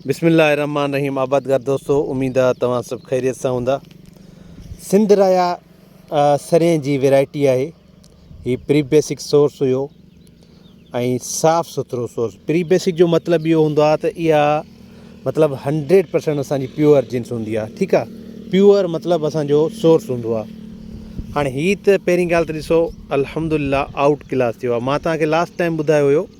بسم الله الرحمٰن الرحيم آبادگار دوستو اميد آ توهان سڀ خيريت سان هوندا سنڌ رايا سرين جي ويرائٽي آهي هي پري بيسڪ سورس هيو ۽ صاف سٿرو سورس پري بيسڪ جو مطلب اهو هوندو آهي ته اها مطلب هنڊريڊ پرسنٽ اسانجي پيور جنس هوندي آهي ٺيڪ آهي پيور مطلب اسانجو سورس هوندو آهي هاڻي هي ته پهرين ڳالهه ته ڏسو الحمد لله آئوٽ ڪلاس ٿيو آهي مان توهان کي لاسٽ ٽائم ٻڌايو هيو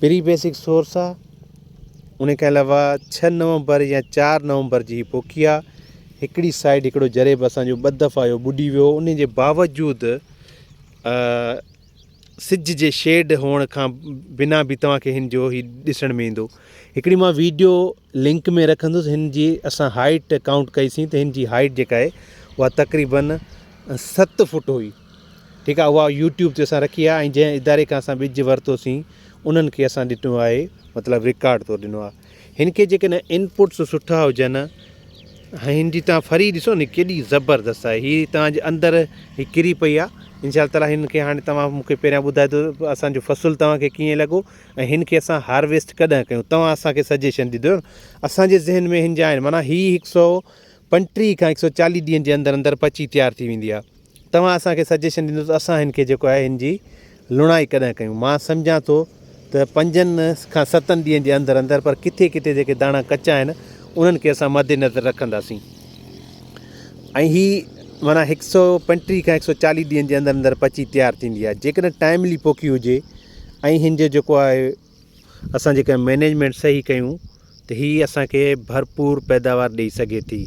پري بيسڪ سورس آ ان کان علاوه ڇهه نومبر يا چار نومبر جي هي پوکي آ هڪڙي سائيڊ هڪڙو جريب اسانجو ٻه دفعا اهو ٻڏي ويو هو انجي باوجود سج جي شيڊ هئڻ کان بنا به توهانکي هنجو هي ڏسڻ ۾ ايندو هڪڙي مان ويڊيو لنڪ ۾ رکندس هنجي اسان هائيٽ ڪائونٽ ڪئي سين ته هنجي هائيٽ جيڪا آهي اها تقريبن ست فوٽ هئي ٺيڪ آهي اها يوٽيوب تي اسان رکي آهي ۽ جنهن اداري کان اسان ٻج ورتو سين انهن کي اسان ڏنو آهي مطلب رڪارڊ طور ڏنو آهي هن کي جيڪڏهن انپوٽس سٺا هجن ۽ هن جي تان فري ڏسو ني ڪيڏي زبردست آهي هي تانجي اندر هي ڪري پئي آهي انشاء الله تعالٰي هن کي هاڻي توهان مونکي پهريان ٻڌائي دو اسانجو فصل توهان کي ڪيئن لڳو ۽ هن کي اسان هارويسٽ ڪڏهن ڪيون توهان اسانکي سجيشن ڏيندو اسانجي ذهن ۾ هن جا آهن معنيٰ هي هڪ سو پنٽيهه کان هڪ سو چاليهه ڏينهن جي اندر اندر پچي تيار ٿي ويندي آهي توهان اسان کي سجيشن ڏيندو ته اسان هن کي جيڪو آهي هن جي لڻائي ڪڏهن ڪيون. مان سمجهان ٿو ته پنجن کان ستن ڏينهن جي اندر اندر پر ڪٿي ڪٿي جيڪي داڻا ڪچا آهن انهن کي اسان مد نظر رکنداسين ۽ هي معنيٰ هڪ سؤ پنٽيهه کان هڪ سؤ چاليهه ڏينهن جي اندر اندر پچي تيار ٿيندي آهي جيڪڏهن ٽائملي پوکي هجي ۽ هن جو جيڪو آهي اسان جيڪڏهن مينيجمينٽ صحيح ڪيون ته هي اسان کي ڀرپور پيداوار ڏئي سگهي ٿي.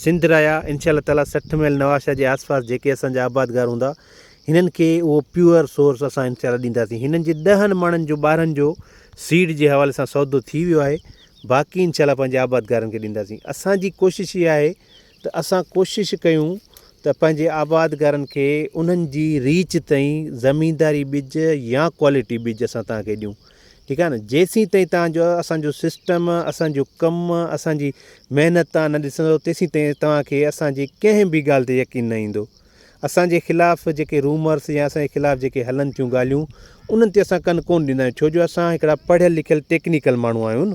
سنڌ رايا انشاء الله تعاليٰ سٺ ميل نوابشاهه جي آس پاس جيڪي اسان جا آبادگار هوندا هنن کي اهو پيور سورس اسان انشاء الله ڏينداسين. هنن جي ڏهن مڻن جو ٻارهن جو سيڊ جي حوالي سان سودو ٿي ويو آهي باقي انشاء الله پنهنجي آبادگارن کي ڏينداسين. اسان جي ڪوشش اها آهي ته اسان ڪوشش ڪيون ته پنهنجي آباد گارن کي انهن جي ريچ تائين زمينداري ٻج يا ڪوالٽي ٻج اسان توهان کي ڏيون ٺيڪ آهي نه جيسين تائين توهان جو اسان جو سسٽم اسان جو ڪم اسان جي محنت توهان نه ڏسندو تيسين تائين توهان کي اسان جي ڪنهن به ڳالهه تي يقين نه ايندو اسان جي خلاف جيڪي رومرس يا اسان جي خلاف جيڪي هلن ٿيون ڳالهيون انهن تي اسان ڪن ڪون ڏيندا آهيون ڇو جو اسان هڪڙا پڙهيل لکيل ٽيڪنيڪل ماڻهو آهيون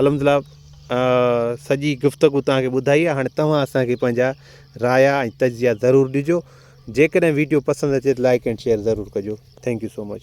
الحمدلله سڄي گفتگو تهان کي ٻڌائي آهي هاڻي توهان اسان کي پنهنجا رايا ۽ تجزيا ضرور ڏجو جيڪڏهن ويڊيو پسند اچي ته لائڪ اينڊ شيئر ضرور ڪجو ٿينڪ يو سو مچ